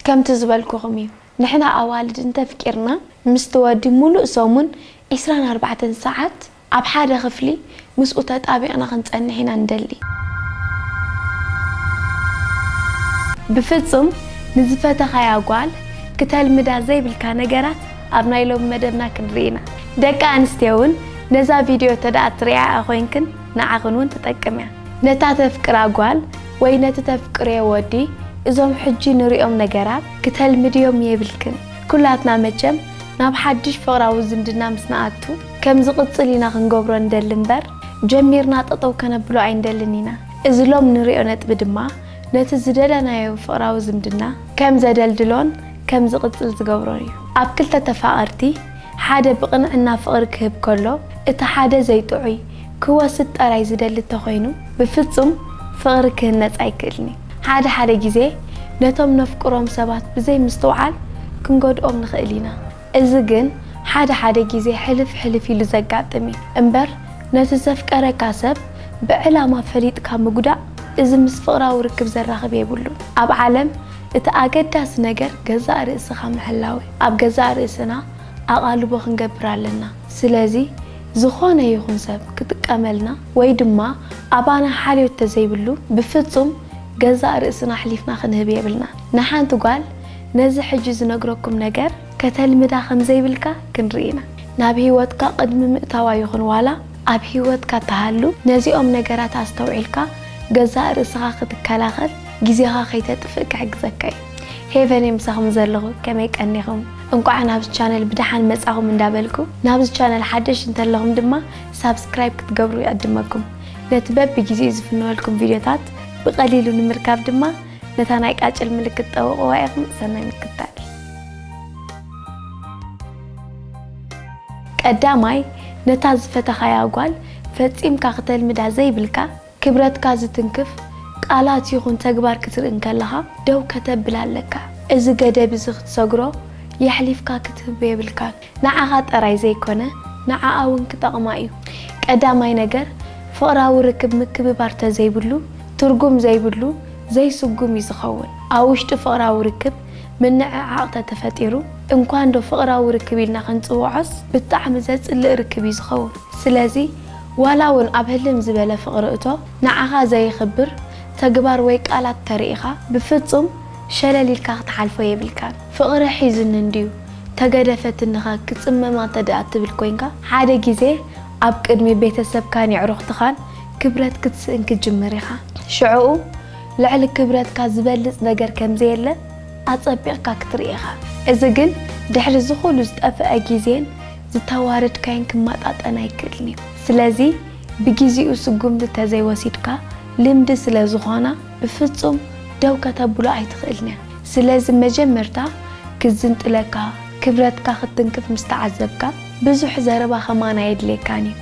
ከምቲ ዝበልኩኹም እዩ ንሕና ኣዋልድ እንተፍቂርና ምስቲ ወዲ ሙሉእ ሰሙን ዕስራን ኣርባዕተን ሰዓት ኣብ ሓደ ክፍሊ ምስኡ ተጣቢቕና ክንጸንሕ ኢና ንደሊ። ብፍጹም ንዝፈተኻያ ጓል ክተልምዳ ዘይብልካ ነገራት ኣብ ናይ ሎሚ መደብና ክንርኢ ኢና። ደቂ ኣንስትዮ ውን ነዛ ቪድዮ ተደኣ ትሪኣኣ ኮይንክን ንዓኽን ውን ትጠቅም እያ። ነታ ተፍቅራ ጓል ወይ ነቲ ተፍቅርዮ ወዲ እዞም ሕጂ ንርእዮም ነገራት ክተልምድዮም የብልክን። ኩላትና መቸም ናብ ሓድሽ ፍቕራዊ ዝምድና ምስ ንኣቱ ከም ዝቕጽል ኢና ክንገብሮ ንደሊ እምበር ጀሚርና ጠጠው ከነብሎ ኣይንደልን ኢና። እዚ ሎም ንርእዮ ነጥቢ ድማ ነቲ ዝደለናዮ ፍቕራዊ ዝምድና ከም ዘደልድሎን ከም ዝቕጽል ዝገብሮን እዩ። ኣብ ክልተ ተፋቐርቲ ሓደ ብቕንዕና ፍቕሪ ክህብ ከሎ፣ እቲ ሓደ ዘይጥዑይ፣ ክወስድ ጠራይ ዝደሊ እንተኾይኑ፣ ብፍጹም ፍቕሪ ክህነጽ ኣይክእልን'ዩ። ሓደ ሓደ ግዜ ነቶም ነፍቅሮም ሰባት ብዘይ ምስትውዓል ክንጎድኦም ንኽእል ኢና። እዚ ግን ሓደ ሓደ ግዜ ሕልፍ ሕልፍ ኢሉ ዘጋጥም'ዩ። እምበር ነቲ ዘፍቀረካ ሰብ ብዕላማ ፈሊጥካ ምጉዳእ እዚ ምስ ፍቕራዊ ርክብ ዘራኽብ የብሉን። ኣብ ዓለም እቲ ኣገዳሲ ነገር ገዛእ ርእስኻ ምሕላው። ኣብ ገዛእ ርእስና ኣቓልቦ ክንገብር ኣለና። ስለዚ ዝኾነ ይኹን ሰብ ክጥቀመልና ወይ ድማ ኣባና ሓልዮት ተዘይብሉ ብፍጹም ገዛእ ርእስና ኣሕሊፍና ክንህብ የብልናን። ንሓንቲ ጓል ነዚ ሕጂ ዝነግረኩም ነገር ከተልምዳ ከም ዘይብልካ ክንርኢ ኢና። ናብ ህይወትካ ቅድሚ ምእታዋ ይኹን ዋላ ኣብ ህይወትካ ትሃሉ ነዚኦም ነገራት ኣስተውዒልካ ገዛእ ርእስኻ ክትከላኸል ግዜኻ ከይተጥፍእ ክሕግዘካ እዩ። ሄቨን እየ ምሳኹም ዘለኹ ከመይ ቀኒኹም እንቋዕ ናብዚ ቻነል ብደሓን መጻኹም እንዳበልኩ ናብዚ ቻነል ሓደሽ እንተለኹም ድማ ሳብስክራይብ ክትገብሩ ይዕድመኩም ነቲ በቢ ግዜኡ ዝፍንወልኩም ቪድዮታት ብቐሊሉ ንምርካብ ድማ ነታ ናይ ቃጭል ምልክት ጠውቕዋ ኢኹም ሰናይ ምክታል ቀዳማይ ነታ ዝፈተኻያ ጓል ፈጺምካ ክተልምዳ ዘይብልካ ክብረትካ ዝትንክፍ ቃላት ይኹን ተግባር ክትርኢ እንከለኻ ደው ከተብል ኣለካ። እዚ ገደብ እዚ ክትሰግሮ የሕሊፍካ ክትህቦ የብልካን። ንዓኻ ጥራይ ዘይኮነ ንዓኣ እውን ክጠቕማ እዩ። ቀዳማይ ነገር ፍቕራዊ ርክብ ምክብባር ተዘይብሉ ትርጉም ዘይብሉ ዘይስጉም እዩ ዝኸውን። ኣብ ውሽጢ ፍቕራዊ ርክብ ምንዕዓቕ ተተፈጢሩ እንኳንዶ ፍቕራዊ ርክብ ኢልና ክንጽውዖስ ብጣዕሚ ዘጽልእ ርክብ እዩ ዝኸውን። ስለዚ ዋላ ውን ኣብ ህልም ዝበለ ፍቕሪ እቶ ንዓኻ ዘየኽብር ተግባር ወይ ቃላት ተሪኢኻ ብፍጹም ሸለል ኢልካ ክትሓልፎ የብልካን። ፍቕሪ ሒዙኒ እንድዩ፣ ተገደፈትኒኸ ክጽመማ እንተድኣ እትብል ኮይንካ፣ ሓደ ግዜ ኣብ ቅድሚ ቤተሰብካን የዕሩኽትኻን ክብረት ክትስእን ክትጅምር ኢኻ። ሽዕኡ ልዕሊ ክብረትካ ዝበልጽ ነገር ከም ዘየለ ኣጸቢቕካ ክትርኢ ኢኻ። እዚ ግን ድሕሪ እዚ ኩሉ ዝጠፍኣ ግዜን ዝተዋረድካዮን ክመጣጠን ኣይክእልን እዩ። ስለዚ ብጊዚኡ ስጉምቲ ተዘይወሲድካ ልምዲ ስለ ዝኾና ብፍጹም ደው ከተብሎ ኣይትኽእልን እያ። ስለዚ መጀመርታ ክዝንጥለካ ክብረትካ ክትትንክፍ ምስ ተዓዘብካ ብዙሕ ዘረባ ከማን ኣየድልየካን እዩ።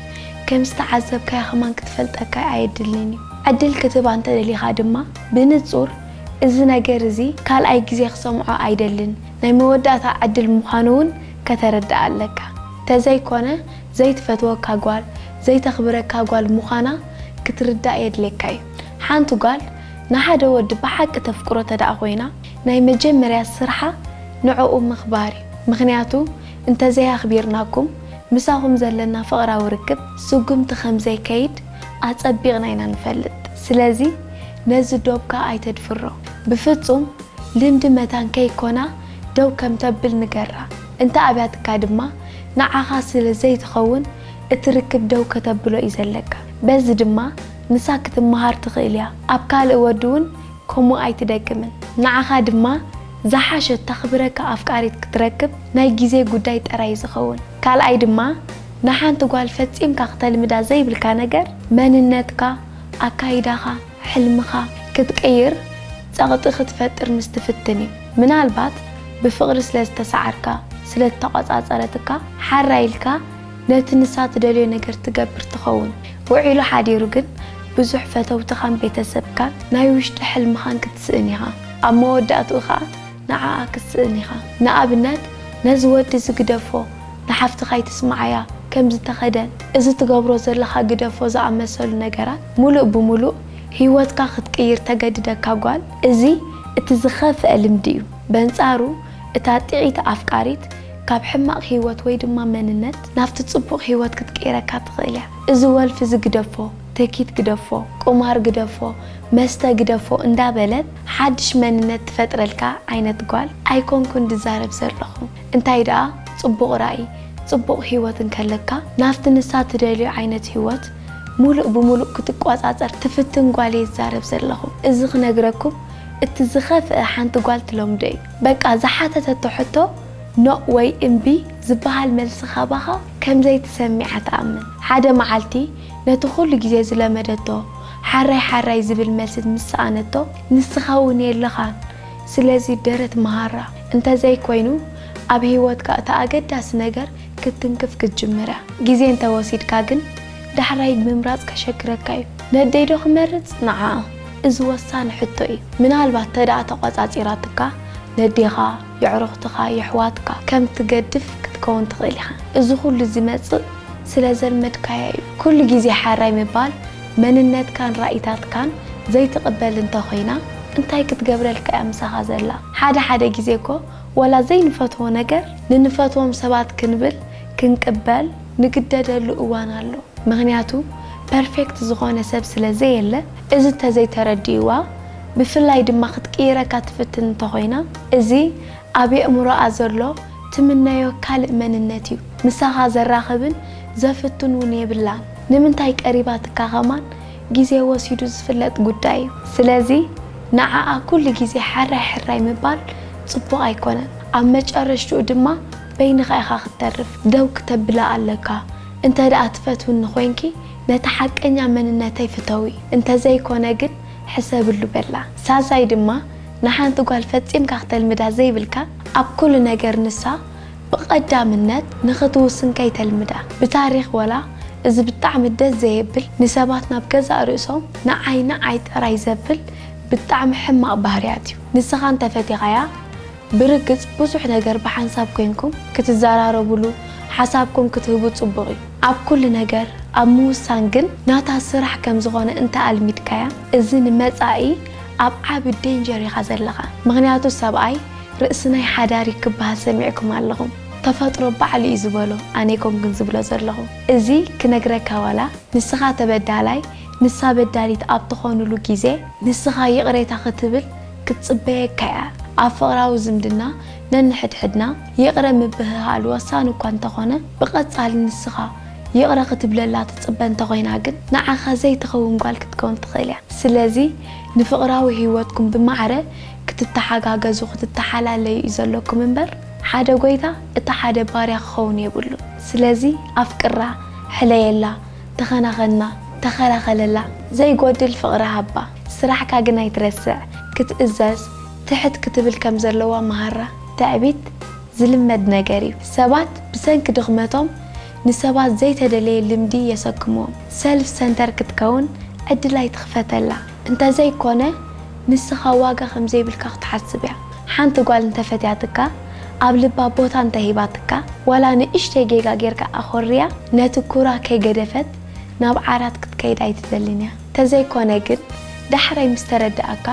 ከም ዝተዓዘብካያ ከማን ክትፈልጠካ ኣየድልን እዩ። ዕድል ክትህባ እንተደሊኻ ድማ ብንጹር እዚ ነገር እዚ ካልኣይ ግዜ ክሰምዖ ኣይደልን ናይ መወዳእታ ዕድል ምዃኑ እውን ከተርድኣ ኣለካ ተዘይ ኮነ ዘይትፈትወካ ጓል ዘይተክብረካ ጓል ሙካና ክትርዳእ የድሌካ እዩ ሓንቲ ጓል ንሓደ ወዲ ብሓቂ ተፍቅሮ ተደኣ ኮይና ናይ መጀመርያ ስርሓ ንዕኡ ምክባር እዩ ምክንያቱ እንተዘይ ኣክቢርናኩም ምሳኩም ዘለና ፍቅራዊ ርክብ ስጉምቲ ከምዘይ ከይድ ኣጸቢቅና ኢና ንፈልጥ ስለዚ ነዚ ዶብካ ኣይተድፍሮ ብፍጹም ልምዲ መታን ከይ ኮና ደው ከም ተብል ንገራ፣ እንተ ኣብያትካ ድማ ንዓኻ ስለ ዘይትኸውን እቲ ርክብ ደው ከተብሎ እዩ ዘለካ። በዚ ድማ ንሳ ክትመሃር ትኽእል እያ፣ ኣብ ካልእ ወዲ እውን ከምኡ ኣይትደግምን። ንዓኻ ድማ ዝሓሸት ተኽብረካ ኣፍቃሪት ክትረክብ ናይ ግዜ ጉዳይ ጥራይ እዩ ዝኸውን። ካልኣይ ድማ ንሓንቲ ጓል ፈጺምካ ክተልምዳ ዘይብልካ ነገር መንነትካ፣ ኣካይዳኻ፣ ሕልምኻ ክትቅይር ጸቕጢ ክትፈጥር ምስ ትፍትን እዩ። ምናልባት ብፍቕሪ ስለ ዝተሰዓርካ፣ ስለ እተቖጻጸረትካ፣ ሓራይ ኢልካ ነቲ ንሳ ትደልዮ ነገር ትገብር ትኸውን። ውዒሉ ሓዲሩ ግን ብዙሕ ፈተውትኻን ቤተሰብካን ናይ ውሽጢ ሕልምኻን ክትስእን ኢኻ። ኣብ መወዳእትኡ ከኣ ንዓኣ ክትስእን ኢኻ ንኣብነት ነዚ ወዲ እዚ ግደፎ ንሓፍትኻ ኣይትስምዓያ ከምዚ ተኸደን እዚ ትገብሮ ዘለኻ ግደፎ ዝኣመሰሉ ነገራት ሙሉእ ብሙሉእ ሂወትካ ክትቅይር ተገድደካ ጓል እዚ እቲ ዝኸፍኣ ልምዲ እዩ በንጻሩ እታ ጢዒቲ ኣፍቃሪት ካብ ሕማቕ ሂወት ወይ ድማ መንነት ናብቲ ጽቡቕ ሂወት ክትቅይረካ ትኽእል እያ እዚ ወልፊ እዚ ግደፎ ትህኪት ግደፎ ቁማር ግደፎ መስተ ግደፎ እንዳበለት ሓድሽ መንነት ትፈጥረልካ ዓይነት ጓል ኣይኮንኩን ድዛረብ ዘለኹ እንታይ ደኣ ጽቡቕ ራኢ ጽቡቕ ሂወት እንከለካ ናብቲ ንሳ ትደልዮ ዓይነት ሂወት ሙሉእ ብሙሉእ ክትቆጻጸር ትፍትን ጓል እየ ዝዛረብ ዘለኹ እዚ ክነግረኩም እቲ ዝኸፍእ ሓንቲ ጓል ትለምዶ እዩ በቃ ዝሓተተቶ ሕቶ ኖእ ወይ እምቢ ዝብሃል መልሲ ካባኻ ከምዘይትሰሚዓ ትኣምን ሓደ መዓልቲ ነቲ ኩሉ ግዜ ዝለመደቶ ሓራይ ሓራይ ዝብል መልሲ ምስ ሰኣነቶ ንስኻ እውን የለኻን ስለዚ ደረት መሃራ እንተዘይ ኮይኑ ኣብ ህይወትካ እቲ ኣገዳሲ ነገር ክትትንክፍ ክትጅምር እያ ግዜ እንተ ወሲድካ ግን ዳሕራይ ምምራጽ ከሸግረካ እዩ ነደይ ዶ ክመርጽ ንዓኣ እዚ ወሳኒ ሕቶ እዩ ምናልባት ተደኣ ተቆጻጺራትካ ነዴኻ የዕሩኽትኻ፣ የሕዋትካ ከም ትገድፍ ክትከውን ትኽእል ኢኻ። እዚ ኩሉ ዝመጽእ ስለ ዘልመድካዮ እዩ። ኩሉ ግዜ ሓራይ ምባል መንነትካን ራኢታትካን ዘይትቕበል እንተ ኮይና እንታይ ክትገብረልካ እያ ምሳኻ ዘላ? ሓደ ሓደ ግዜ እኮ ወላ ዘይንፈትዎ ነገር ንንፈትዎም ሰባት ክንብል ክንቅበል ንግደደሉ እዋን ኣሎ። ምኽንያቱ ፐርፌክት ዝኾነ ሰብ ስለ ዘየለ እዚ እንተ ዘይተረዲእዋ ብፍላይ ድማ ክትቅይረካ ትፍትን እንተኾይና እዚ ኣብ የእምሮኣ ዘሎ ትምነዮ ካልእ መንነት እዩ ምሳኻ ዘራኽብን ዘፍቱን እውን የብላን ንምንታይ ቀሪባትካ ከማን ግዜ ወሲዱ ዝፍለጥ ጉዳይ እዩ ስለዚ ንዓኣ ኩሉ ግዜ ሐራይ ሐራይ ምባል ጽቡቕ ኣይኮነን ኣብ መጨረሽትኡ ድማ በይንኻ ኢኻ ክትተርፍ ደው ክተብላ ኣለካ እንተድኣ ትፈትውኒ ኮይንኪ ነቲ ሐቀኛ መንነተይ ፍተዊ እንተዘይኮነ ግን ሕሰብሉ በላ። ሳልሳይ ድማ ንሓንቲ ጓል ፈጺምካ ክተልምዳ ዘይብልካ ኣብ ኩሉ ነገር ንሳ ብቀዳምነት ንክትውስን ከይተልምዳ። ብታሪኽ ወላ እዚ ብጣዕሚ ደስ ዘየብል ንሰባት ናብ ገዛእ ርእሶም ንዓይ ንዓይ ጥራይ ዘብል ብጣዕሚ ሕማቅ ባህርያት እዩ ንስኻ እንተፈቲኻያ፣ ብርግጽ ብዙሕ ነገር ብሓንሳብ ኮይንኩም ክትዛራረብሉ ሓሳብኩም ክትህቡ ጽቡቅ እዩ ኣብ ኩሉ ነገር ኣብ ምውሳን ግን ናታ ስራሕ ከም ዝኮነ እንተ ኣልሚድካያ እዚ ንመጻኢ ኣብ ዓቢ ዴንጀር ኢካ ዘለካ ምክንያቱ ሰብኣይ ርእስናይ ሓዳሪ ክብሃል ሰሚዕኩም ኣለኩም ተፈጥሮ ባዕሉ እዩ ዝበሎ ኣነይኮንኩን ዝብሎ ዘለኩ እዚ ክነግረካ ዋላ ንስካ ተበዳላይ ንሳ በዳሊት ኣብ ትኮኑሉ ግዜ ንስካ ይቅሬታ ክትብል ክትጽበየካ እያ። ኣብ ፍቕራዊ ዝምድና ነንሕድሕድና ይቕረ ምብህሃል ወሳኒ እኳ እንተዀነ፣ ብቐጻሊ ንስኻ ይቕረ ክትብለላ ትጽበ እንተ ዀይና ግን ንዓኻ ዘይትኸውን ጓል ክትከውን ትኽእል እያ። ስለዚ፣ ንፍቕራዊ ህይወትኩም ብማዕረ ክትተሓጋገዙ ክትተሓላለዩ እዩ ዘሎኩም እምበር፣ ሓደ ጐይታ እቲ ሓደ ባርያ ክኸውን የብሉን። ስለዚ፣ ኣፍቅራ፣ ሕለየላ፣ ተኸናኸና፣ ተኸላኸለላ፣ ዘይጐድል ፍቕሪ ሃባ። ስራሕካ ግን ኣይትረስዕ ክትእዘዝ ትሕት ክትብል ከም ዘለዋ መሃራ። ትዕቢት ዝልመድ ነገር እዩ ሰባት ብሰንኪ ድኽመቶም ንሰባት ዘይተደለየ ልምዲ የሰክምዎም ሰልፍ ሰንተር ክትከውን ዕድል ኣይትኽፈተላ እንተዘይ ኮነ ንስኻ ዋጋ ከም ዘይብልካ ክትሓስብ እያ ሓንቲ ጓል እንተ ፈትያትካ ኣብ ልባ ቦታ እንተ ሂባትካ ዋላ ንእሽተይ ጌጋ ጌርካ ኣኾርያ ነቲ ኩራ ከይገደፈት ናብ ዓራት ክትከይድ ኣይትደልን እያ። ተዘይኮነ ግን ዳሕራይ ምስ ተረደኣካ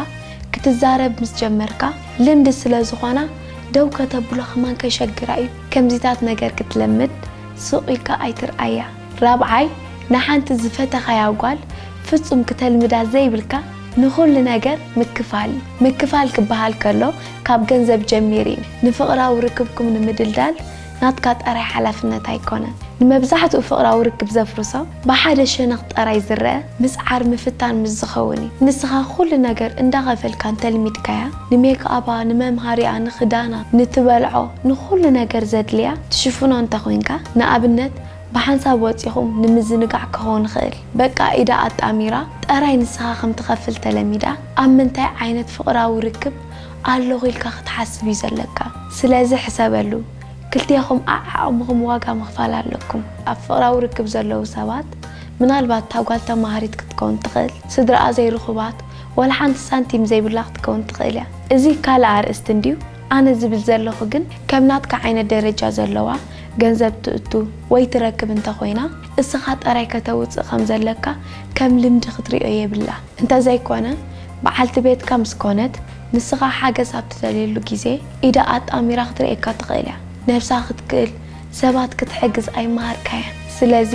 ክትዛረብ ምስ ጀመርካ ልምዲ ስለ ዝኾና ደው ከተብሎ ከማን ከሸግራ እዩ ከምዚታት ነገር ክትለምድ ሱቕ ኢልካ ኣይትርኣያ ራብዓይ ንሓንቲ ዝፈተኻያ ጓል ፍጹም ክተልምዳ ዘይብልካ ንኹሉ ነገር ምክፋል እዩ ምክፋል ክበሃል ከሎ ካብ ገንዘብ ጀሚሩ እዩ ንፍቕራዊ ርክብኩም ንምድልዳል ናትካ ጠራይ ሓላፍነት ኣይኮነን ንመብዛሕትኡ ፍቕራዊ ርክብ ዘፍርሶ ብሓደ ሸነኽ ጠራይ ዝረኣ ምጽዓር ምፍታን ምስ ዝኸውን እዩ ንስኻ ኩሉ ነገር እንዳኸፈልካ እንተልሚድካያ ንሜክኣባ ንመምሃሪኣ ንኽዳና ንትበልዖ ንኹሉ ነገር ዘድልያ ትሽፍኖ እንተኾይንካ ንኣብነት ብሓንሳብ ወጺኹም ንምዝንጋዕ ክኾን ይኽእል በቃ ኢዳ ኣጣሚራ ጠራይ ንስኻ ከም ትኸፍል ተለሚዳ ኣብ ምንታይ ዓይነት ፍቕራዊ ርክብ ኣለኹ ኢልካ ክትሓስብ እዩ ዘለካ ስለዚ ሕሰበሉ ክልቴኹም ዓዓቕምኹም ዋጋ ምኽፋል ኣለኩም ኣብ ፍቕራዊ ርክብ ዘለዉ ሰባት ምናልባት እታ ጓል ተማሃሪት ክትከውን ትኽእል ስድራኣ ዘይርኹባት ዋላ ሓንቲ ሳንቲም ዘይብላ ክትከውን ትኽእል እያ እዚ ካልእ ኣርእስቲ እንድዩ ኣነ ዝብል ዘለኹ ግን ከም ናትካ ዓይነት ደረጃ ዘለዋ ገንዘብ ትእቱ ወይ ትረክብ እንተኾይና እስኻ ጥራይ ከተውጽእ ከም ዘለካ ከም ልምዲ ክትሪኦ የብላ እንተዘይኮነ በዓልቲ ቤትካ ምስ ኮነት ንስኻ ሓገዝ ኣብ ትደልየሉ ግዜ ኢዳ ኣጣሚራ ክትርእየካ ትኽእል እያ። ነብሳ ክትክእል ሰባት ክትሕግዝ ኣይመሃርካያን። ስለዚ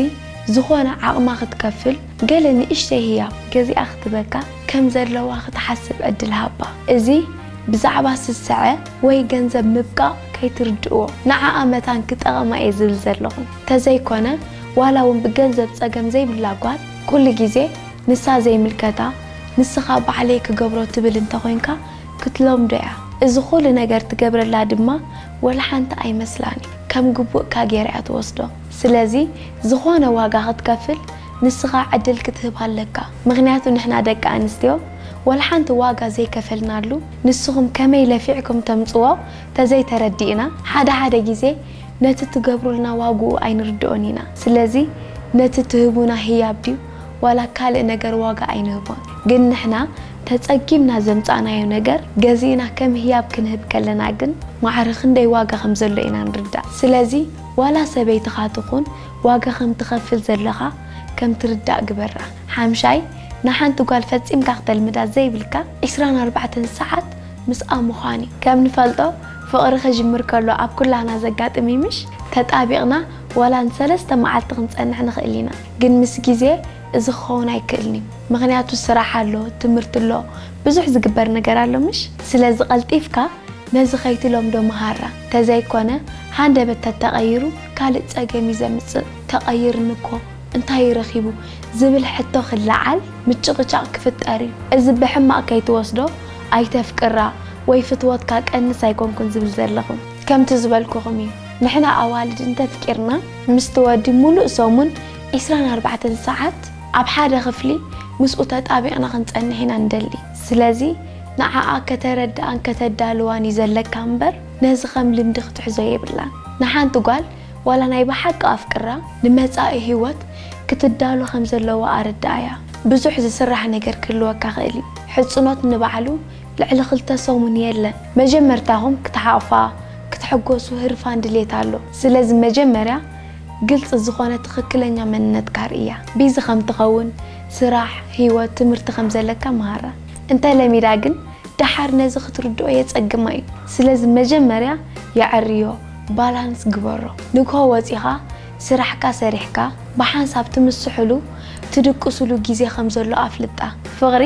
ዝኾነ ዓቕማ ክትከፍል ገለ ንእሽተይ ህያብ ገዚኣ ክትበካ ከም ዘለዋ ክትሓስብ ዕድል ሃባ። እዚ ብዛዕባ ስሰዐ ወይ ገንዘብ ምብቃቕ ከይትርድእዎ። ንዓኣ መታን ክጠቕማ እየ ዝብል ዘለኹ። ተዘይኮነ ዋላ ውን ብገንዘብ ጸገም ዘይብላ ጓል ኩሉ ግዜ ንሳ ዘይምልከታ ንስኻ ባዕለይ ክገብሮ ትብል እንተኾይንካ ክትለምዶ እያ። እዚ ኹሉ ነገር ትገብረላ ድማ ወላሓንቲ ኣይመስላን እዩ። ከም ግቡእካ ገይራ እያ ትወስዶ። ስለዚ ዝኾነ ዋጋ ክትከፍል ንስኻ ዕድል ክትህብ ኣለካ። ምኽንያቱ ንሕና ደቂ ኣንስትዮ ወላሓንቲ ዋጋ ዘይከፈልናሉ ንስኹም ከመይ ለፊዕኩም ተምጽዎ ተዘይተረዲእና ሓደ ሓደ ግዜ ነቲ ትገብሩልና ዋግኡ ኣይንርድኦን ኢና። ስለዚ ነቲ ትህቡና ህያብ ድዩ? ዋላ ካልእ ነገር ዋጋ ኣይንህቦን ግን ንሕና ተጸጊምና ዘምጻእናዮ ነገር ገዚእና ከም ህያብ ክንህብ ከለና ግን ማዕረ ክንደይ ዋጋ ከም ዘሎ ኢና ንርዳእ ስለዚ ዋላ ሰበይትኻ ትኹን ዋጋ ከም ትኸፍል ዘለኻ ከም ትርዳእ ግበራ ሓምሻይ ንሓንቲ ጓል ፈጺምካ ክተልምዳ ዘይብልካ ዕስራን ኣርባዕተን ሰዓት ምስኣ ምዃን እዩ ከም ንፈልጦ ፍቕሪ ክጅምር ከሎ ኣብ ኩላህና ዘጋጥም እዩ ምሽ ተጣቢቕና ዋላ ን ሰለስተ መዓልቲ ክንጸንሕ ንኽእል ኢና ግን ምስ ግዜ እዚ ክኸውን ኣይክእልን እዩ ምኽንያቱ ስራሕ ኣሎ ትምህርቲ ኣሎ ብዙሕ ዝግበር ነገር ኣሎ ምሽ ስለዚ ቀልጢፍካ ነዚ ከይትለምዶ ምሃራ ተዘይኮነ ሃንደበት ተተቀይሩ ካልእ ጸገም እዩ ዘምጽእ ተቀይርኒ እኮ እንታይ እዩ ረኺቡ ዝብል ሕቶ ክለዓል ምጭቅጫቅ ክፍጠር እዩ እዚ ብሕማቅ ከይትወስዶ ኣይተፍቅራ ወይ ፍትወትካ ቀንስ ኣይኮንኩን ዝብል ዘለኹ ከምቲ ዝበልኩኹም እዩ ንሕና ኣዋልድ እንተፍቂርና ምስቲ ወዲ ሙሉእ ሰሙን ዕስራን ኣርባዕተን ሰዓት ኣብ ሓደ ክፍሊ ምስኡ ተጣቢቕና ክንጸንሕ ኢና እንደሊ። ስለዚ ንዓኣ ከተረድኣን ከተዳልዋን እዩ ዘለካ እምበር ነዚ ከም ልምዲ ክትሕዞ የብላን። ንሓንቲ ጓል ዋላ ናይ ብሓቂ ኣፍቅራ ንመጻኢ ሂወት ክትዳሎ ከም ዘለዋ ኣረድኣያ። ብዙሕ ዝስራሕ ነገር ክህልወካ ክእል እዩ። ሕጽኖት ንባዕሉ ልዕሊ ክልተ ሰሙን የለን መጀመርታኹም ክትሓቑፋ ክትሕጎሱ ህርፋን ድሌት ኣሎ ስለዚ መጀመርያ ግልጺ ዝኾነ ትኽክለኛ መንነትካ ኣርእያ ቢዚ ከም ትኸውን ስራሕ ሂወት ትምህርቲ ከም ዘለካ ምሃራ እንተ ለሚዳ ግን ደሓር ነዚ ክትርድኦ የጸግማ እዩ ስለዚ መጀመርያ የዐርዮ ባላንስ ግበሮ ንግሆ ወጺኻ ስራሕካ ሰሪሕካ ብሓንሳብ ትምስሕሉ ትድቅስሉ ግዜ ከም ዘሎ ኣፍልጣ ፍቕሪ